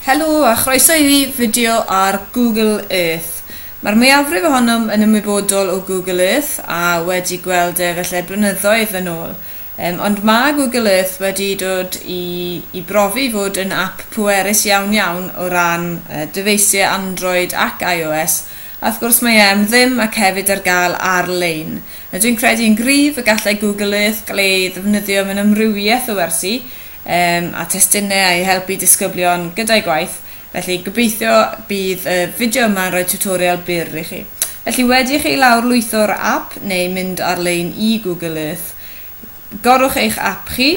Helo a chroeso i fideo ar Google Earth. Mae'r mwyafrif ohonom yn ymwybodol o Google Earth a wedi gweld e felly blynyddoedd yn ôl. Um, ond mae Google Earth wedi dod i, i brofi fod yn app pwerus iawn iawn o ran uh, dyfeisiau Android ac iOS a wrth gwrs mae e am ddim ac hefyd ar gael ar-lein. Dwi'n credu yn gryf y gallai Google Earth gael ei ddefnyddio mewn amrywiaeth o wersi Yym a testunne a i helpu disgyblion gyda'u gwaith, felly gobeithio bydd y fideo yma'n rhoi tutorial byr i chi. Felly wedi i chi lawr lwytho'r ap neu mynd ar lein i Google Earth, gorwch eich ap chi,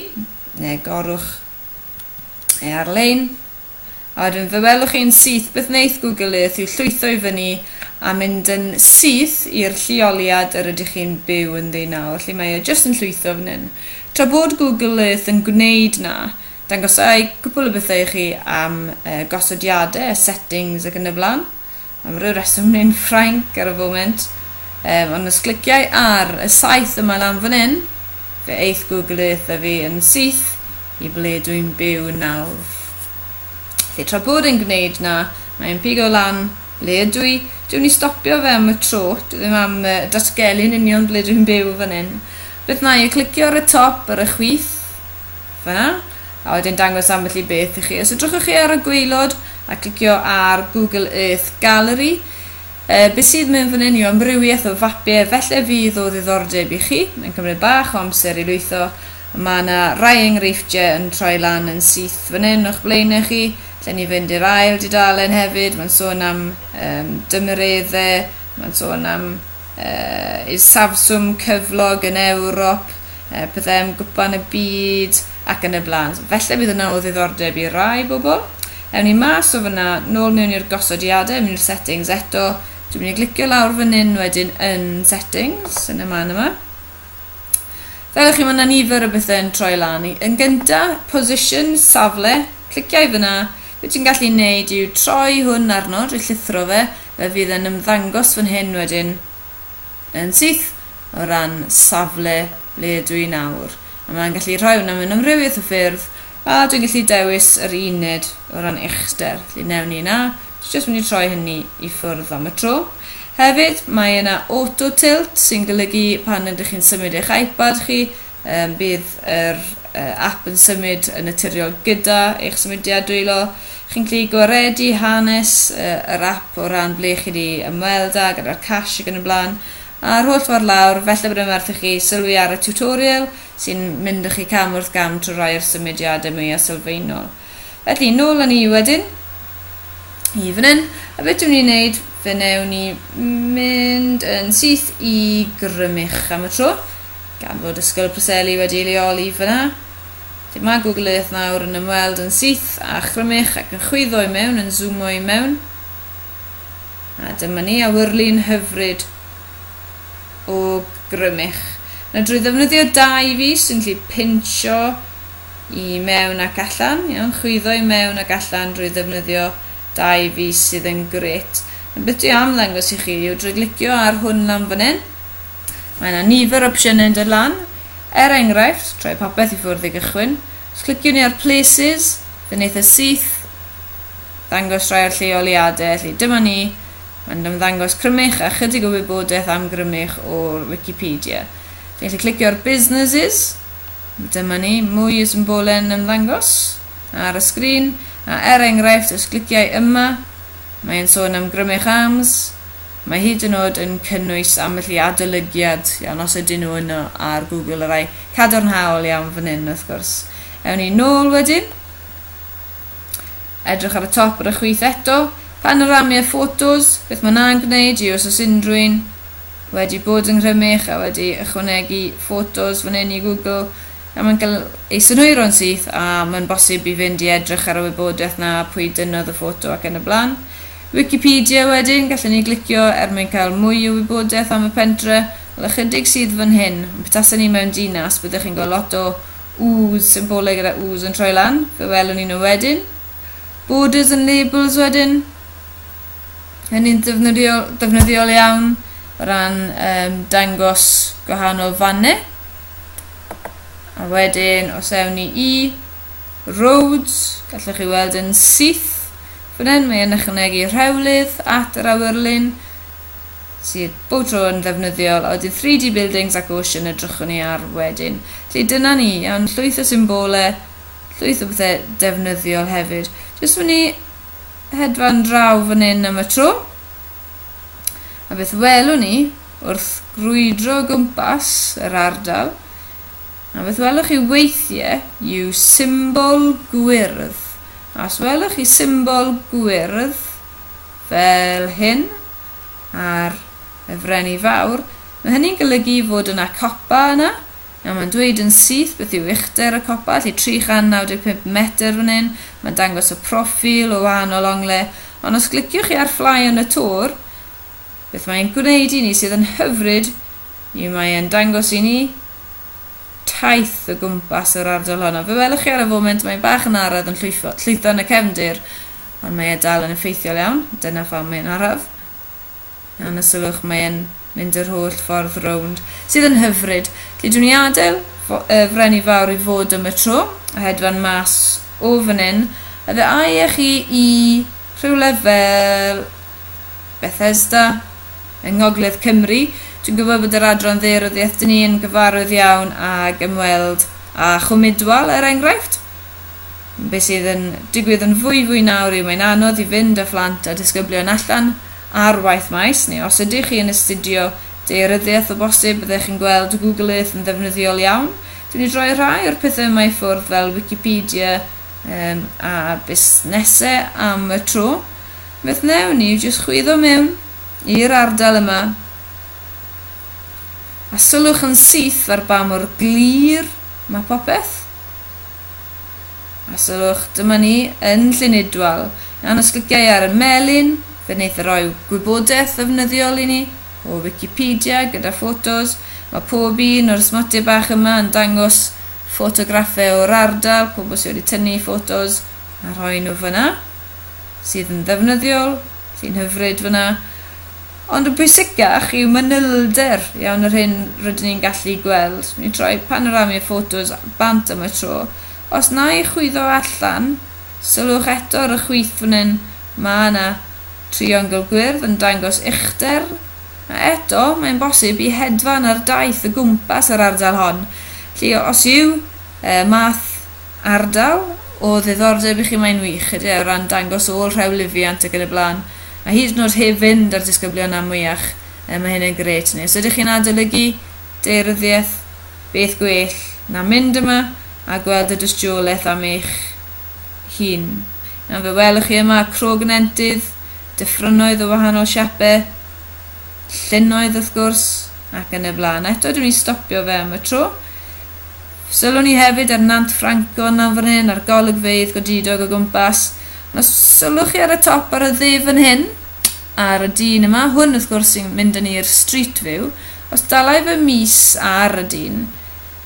neu gorwch e ar lein, A wedyn fe welwch chi yn syth beth wneith Google Earth yw llwytho i fyny a mynd yn syth i'r lleoliad yr ydych chi'n byw ynddi nawr, felly mae e jyst yn llwytho fan hyn. Tra bod Google Earth yn gwneud 'na, dangosai cwpwl o bethau i chi am gosodiadau, settings ac yn y blaen. Am ryw reswm yn un Ffrainc ar y foment, yym, ond os cliciai ar y saeth yma lan fan hyn, fe eith Google Earth a fi yn syth i ble dwi'n byw nawr. Felly tra bod e'n gwneud na, mae e'n pigo lan ble ydw i. Dwi'n mynd i stopio fe am y tro, dwi ddim am uh, datgelu'n union ble dwi'n byw fan hyn. Beth na i, clicio ar y top ar y chwith, Fel yna. A wedyn dangos ambell i beth i chi. Os edrychwch chi ar y gwaelod a clicio ar Google Earth Gallery, e, beth sydd mewn fan hyn yw amrywiaeth o fapiau, felly fydd o ddiddordeb i chi. Mae'n cymryd bach o amser i lwytho. Mae yna rai enghreifftiau yn troi lan yn syth fan hyn o'ch blaenau chi. Lle ni fynd i'r ail dudalen hefyd, mae'n sôn am um, dymereddau, mae'n sôn am isafswm cyflog yn Ewrop, pethau am gwpan y byd ac yn y blaen. So, felly bydd hwnna o ddiddordeb i rai bobl. Ewn ni mas o fyna, nôl mewn i'r gosodiadau, mewn i'r settings eto. Dwi'n mynd i glicio lawr fan hyn wedyn yn settings, yn y man yma. Fel chi, mae yna nifer o bethau yn troi lan. Yn gyntaf, position, safle, cliciau fyna, Be ti'n gallu wneud yw troi hwn arno, drwy llithro fe, fe fydd e'n ymddangos fan hyn wedyn yn syth o ran safle ble ydw i nawr. A mae'n gallu rhoi hwnna mewn amrywiaeth o ffyrdd, a dwi'n gallu dewis yr uned o ran uchder. Felly newn ni yna, dwi jyst mynd i troi hynny i ffwrdd am y tro. Hefyd, mae yna auto tilt sy'n golygu pan ydych chi'n symud eich iPad chi, Yym, bydd yr ap yn symud yn naturiol gyda eich symudiad dwylo. Chi'n gallu gwaredu hanes yr ap o ran ble chi wedi ymweld â gyda'r cash ac yn y blaen, a'r holl ffordd lawr. Falle bod e'n werth i chi sylwi ar y tiwtorial sy'n mynd â chi cam wrth gam trwy rai o'r symudiadau mwya' sylfaenol. Felly, nôl yn ni wedyn. I fan hyn. A beth dwi'n ni'n neud, fe newn ni mynd yn syth i grymych am y tro. Gan fod Ysgol y Preseli wedi ei leoli fyna. Lle mae Google Earth nawr yn ymweld yn syth a chrymych ac yn chwyddo i mewn, yn zoomo i mewn. A dyma ni, awyrlu'n hyfryd o grymych. Na drwy ddefnyddio dau fus yn lle pincho i mewn ac allan, iawn, chwyddo i mewn ac allan drwy ddefnyddio dau fis sydd yn grêt. A beth dwi am ddangos i chi yw drwy glicio ar hwn lan fan hyn, mae yna nifer o opsiynau yn dod lan, er enghraifft, troi popeth i ffwrdd i gychwyn, os clicio ni ar places, fe'n eitha syth, ddangos rhai o'r lleoliadau, felly dyma ni, mae'n ymddangos crymych a chydig o wybodaeth am grymych o'r Wikipedia. Dwi'n gallu clicio ar businesses, Dyma ni, mwy o symbole'n ymddangos ar y sgrin, a er enghraifft os gliciai yma, mae e'n sôn am Grymych Arms, mae hyd yn oed yn cynnwys ambell i adolygiad iawn os ydyn nhw yno ar Google, y rai cadarnhaol iawn fan hyn wrth gwrs. Ewn ni nôl wedyn, edrych ar y top ar y chwith eto, panorami a photos, beth mae na'n gwneud i os oes unrhyw un wedi bod yn nghrymych a wedi ychwanegu ffotos fan hyn i Google a mae'n cael ei synhwyro'n syth a mae'n bosib i fynd i edrych ar y wybodaeth 'na, pwy dynnodd y ffoto ac yn y blaen. Wikipedia wedyn, gallwn ni glicio er mwyn cael mwy o wybodaeth am y pentre, wel ychydig sydd fan hyn, ond petasen ni mewn dinas byddech chi'n gweld lot o U's, symbolau gyda U's yn troi lan, fe welwn ni nhw wedyn. Borders and labels wedyn. yn un defnyddiol, defnyddiol iawn o ran um, dangos gwahanol fannau. A wedyn, os ewn ni i roads, gallwch chi weld yn syth fan hyn, mae'n ychwanegu rhewlydd at yr awyrlun, sydd bob tro yn ddefnyddiol, a wedyn 3D buildings ac ocean edrychwn ni ar wedyn. Felly dyna ni, iawn, llwyth o symbolau, llwyth o bethau defnyddiol hefyd. Jyst mynd i hedfan draw fan hyn am y tro. A beth welwn ni wrth grwydro o gwmpas yr ardal? A beth welwch chi weithiau yw symbol gwyrdd. A os welwch chi symbol gwyrdd fel hyn ar y Frenni Fawr, mae hynny'n golygu fod yna copa yna, Nawr mae'n dweud yn syth beth yw uchder y copa, felly 395 metr fan hyn, mae'n dangos y proffil o wahanol onglau, ond os gliciwch chi ar Fly on the Tour, beth mae'n gwneud i ni sydd yn hyfryd yw mae e'n dangos i ni taith o gwmpas yr ardal hon, ond fe welwch chi ar y foment mae'n bach yn araf yn llwytho, llwytho yn y cefndir, ond mae e dal yn effeithiol iawn, dyna pham mae'n araf. A na sylwch, mae e'n mynd yr holl ffordd rownd. Sydd yn hyfryd. Dydw ni adael y Freni Fawr i fod am y tro, a hedfan mas o fan hyn. A fe ai â chi i rhywle fel Bethesda, yng Ngogledd Cymru. Dwi'n gwybod bod yr adran dde ryddiaith dyn ni yn gyfarwydd iawn ag ymweld â Chwm Idwal, er enghraifft. Be sydd yn digwydd yn fwyfwy nawr yw mae'n anodd i fynd â phlant a disgyblion allan ar waith maes, neu os ydych chi yn astudio daearyddiaeth o bosib byddech chi'n gweld Google Earth yn ddefnyddiol iawn. Dwi wedi rhoi rhai o'r pethau yma i ffwrdd fel Wikipedia um, a busnesau am y tro. Beth newn ni yw jyst chwyddo mewn i'r ardal yma a sylwch yn syth ar ba mor glir mae popeth. A sylwch, dyma ni, yn Llyn-Idwal. Mewn ysgogiau ar y melin, fe wneith e roi gwybodaeth ddefnyddiol i ni, o Wicipedia, gyda ffotos. Mae pob un o'r smotiau bach yma yn dangos ffotograffau o'r ardal, pobl sydd wedi tynnu ffotos a rhoi nhw fan'na, sydd yn ddefnyddiol, sy'n hyfryd fan'na. Ond yn bwysicach yw manylder iawn yr hyn rydyn ni'n gallu gweld. Mi droi panorami'r ffotos bant am y tro. Os na i chwyddo allan, sylwch eto ar y chwith fan hyn, mae yna triongl gwyrdd yn dangos uchder, a eto mae'n bosib i hedfan ar daith o gwmpas yr ardal hon, felly os yw y math ardal o ddiddordeb i chi mae'n wych ydy e o ran dangos ôl rhew lifiant ac yn y blaen a hyd yn oed heb fynd â'r disgyblion am mwyach yy mae hyn yn grêt neu os ydych chi'n adolygu deiryddiaeth beth gwell na mynd yma a gweld y dystiolaeth am eich hun nawr fe welwch chi yma crog yn entydd dyffrynnoedd o wahanol siape llynnoedd wrth gwrs ac yn y blaen eto dwi'n mynd i stopio fe am y tro Sylwn i hefyd ar Nant Ffrancon lan fan hyn, a'r golygfeydd godidog o gwmpas. Ond os sylwch chi ar y top ar y dde fan hyn, ar y dyn yma, hwn wrth gwrs sy'n mynd yn i'r street view, os dalai fy mis ar y dyn,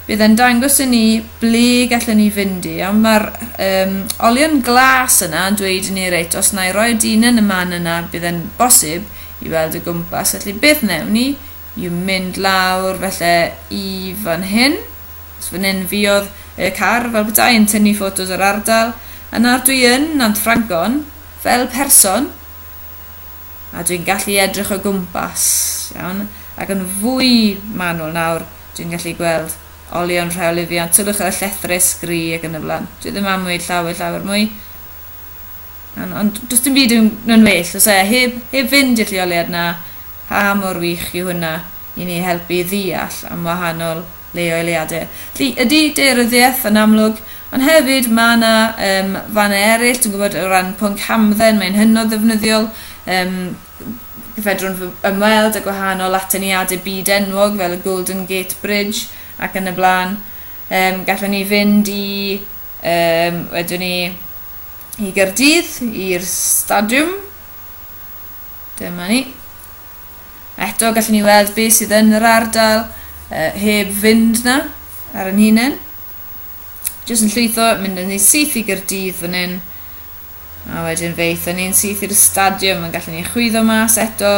bydd e'n dangos i ni ble gallwn ni fynd i, ond mae'r um, olion glas yna yn dweud i ni reit, os na i roi y dyn yn y man yna, bydd e'n bosib i weld y gwmpas, felly beth newn ni? Y mynd lawr felly i fan hyn. So fan hyn fiodd y car fel petai yn tynnu ffotos o'r ardal. A nawr dwi yn Nant Ffrangon fel person a dwi'n gallu edrych o gwmpas, iawn, ac yn fwy manwl nawr dwi'n gallu gweld olion rheolyfiant, sylwch ar y llethrys gri ac yn y flan. Dwi ddim am wneud llawer llawer mwy. Iawn, ond does dim byd yn, yn well, os e, heb, heb fynd i'r lleoliad na, Pa mor wych yw hynna i ni helpu i ddeall am wahanol leoeliade? Felly, ydy daearyddiaeth yn amlwg, ond hefyd mae yna um, fannau eraill, dwi'n gwybod o ran pwnc hamdden, mae'n hynod ddefnyddiol, um, fedrwn ymweld â gwahanol atyniadau byd enwog fel y Golden Gate Bridge ac yn y blaen. Um, gallwn ni fynd i, um, wedwn ni, i Gyrdydd, i'r stadiwm, Dyma ni. Eto, gallwn ni weld beth sydd yn yr ardal uh, heb fynd na ar yn hunain. Jyst yn llwytho, mynd yn ni syth i Gyrdydd fan hyn. A wedyn fe eitha ni'n syth i'r stadiwm, yn gallwn ni chwyddo mas eto,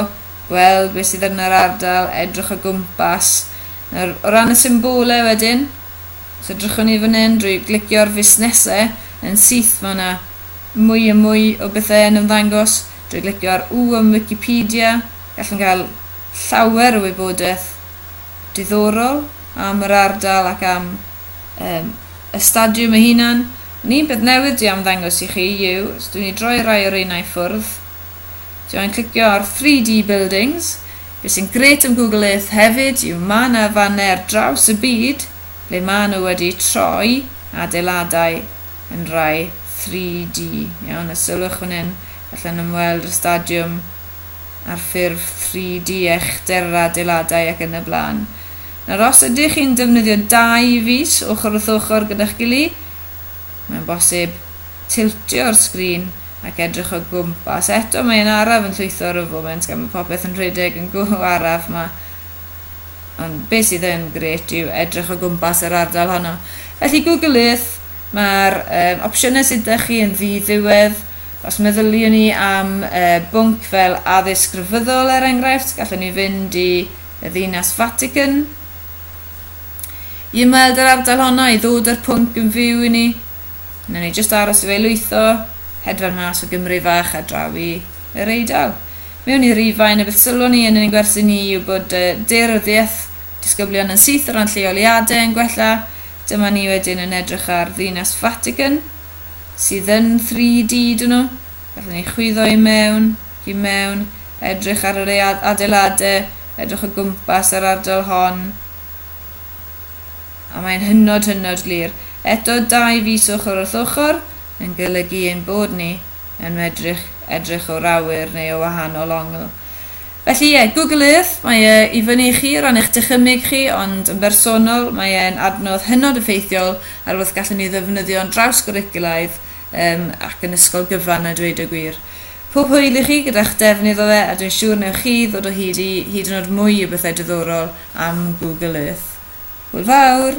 gweld beth sydd yn yr ardal, edrych o gwmpas. Nawr, o ran y symbolau wedyn, os edrychwn ni fan hyn drwy glicio'r fusnesau yn syth, mae yna mwy a mwy o bethau yn ymddangos. Drwy glicio ar U ym Wicipedia, gallwn gael llawer o wybodaeth diddorol am yr ardal ac am yym y stadiwm ei hunan. Ond un peth newydd dwi am ddangos i chi yw, os dwi'n ei droi rai o reina i ffwrdd, dwi angen clicio ar 3D Buildings. Be sy'n gret am Google Earth hefyd yw mae yna fannau ar draws y byd ble maen nhw wedi troi adeiladau yn rhai 3D, iawn, a sylwch fan hyn, allan ymweld y stadiwm ar ffurf 3D, echder yr adeiladau ac yn y blaen. Nawr, os ydych chi'n defnyddio dau fys ochr wrth ochr gyda'ch gili, mae'n bosib tiltio'r sgrin ac edrych o gwmpas. Eto, mae yn araf yn llwytho ar y foment gan bod popeth yn rhedeg yn go araf ma. Ond beth sydd yn gret yw edrych o gwmpas yr ardal honno. Felly, Google Earth Mae'r um, opsiynau sydd ydych chi yn ddi-ddiwedd. Os meddyliwn ni am uh, bwnc fel addysg grefyddol, er enghraifft, gallwn ni fynd i y ddinas Vatican i ymweld yr ardal honno, i ddod â'r pwnc yn fyw i ni. Yna ni jyst aros i fe lwytho, hedfan mas o Gymru fach a draw i yr Eidal. Mewn i Rifain, y beth sylwn ni yn ein gwersi ni yw bod uh, dearyddiaeth disgyblion yn syth o ran lleoliadau yn gwella, Dyma ni wedyn yn edrych ar ddinas Vatican, sydd yn 3D dyn nhw. Gallwn ni chwyddo i mewn, ac i mewn, edrych ar yr adeiladau, edrych o gwmpas yr ardal hon. A mae'n hynod hynod glir. Eto dau fis ochr wrth ochr yn golygu ein bod ni yn medru edrych o'r awyr neu o wahanol ongl. Felly ie, Google Earth, mae e i fyny i chi o ran eich dychymyg chi, ond yn bersonol, mae e'n adnodd hynod effeithiol ar wrth gallwn ni ddefnyddio'n drawsgwricwlaidd yym ac yn ysgol gyfan a dweud y gwir. Pob hwyl i chi gyda'ch defnydd o fe a dwi'n siŵr newch chi ddod o hyd i hyd yn oed mwy o bethau diddorol am Google Earth. Hwyl fawr!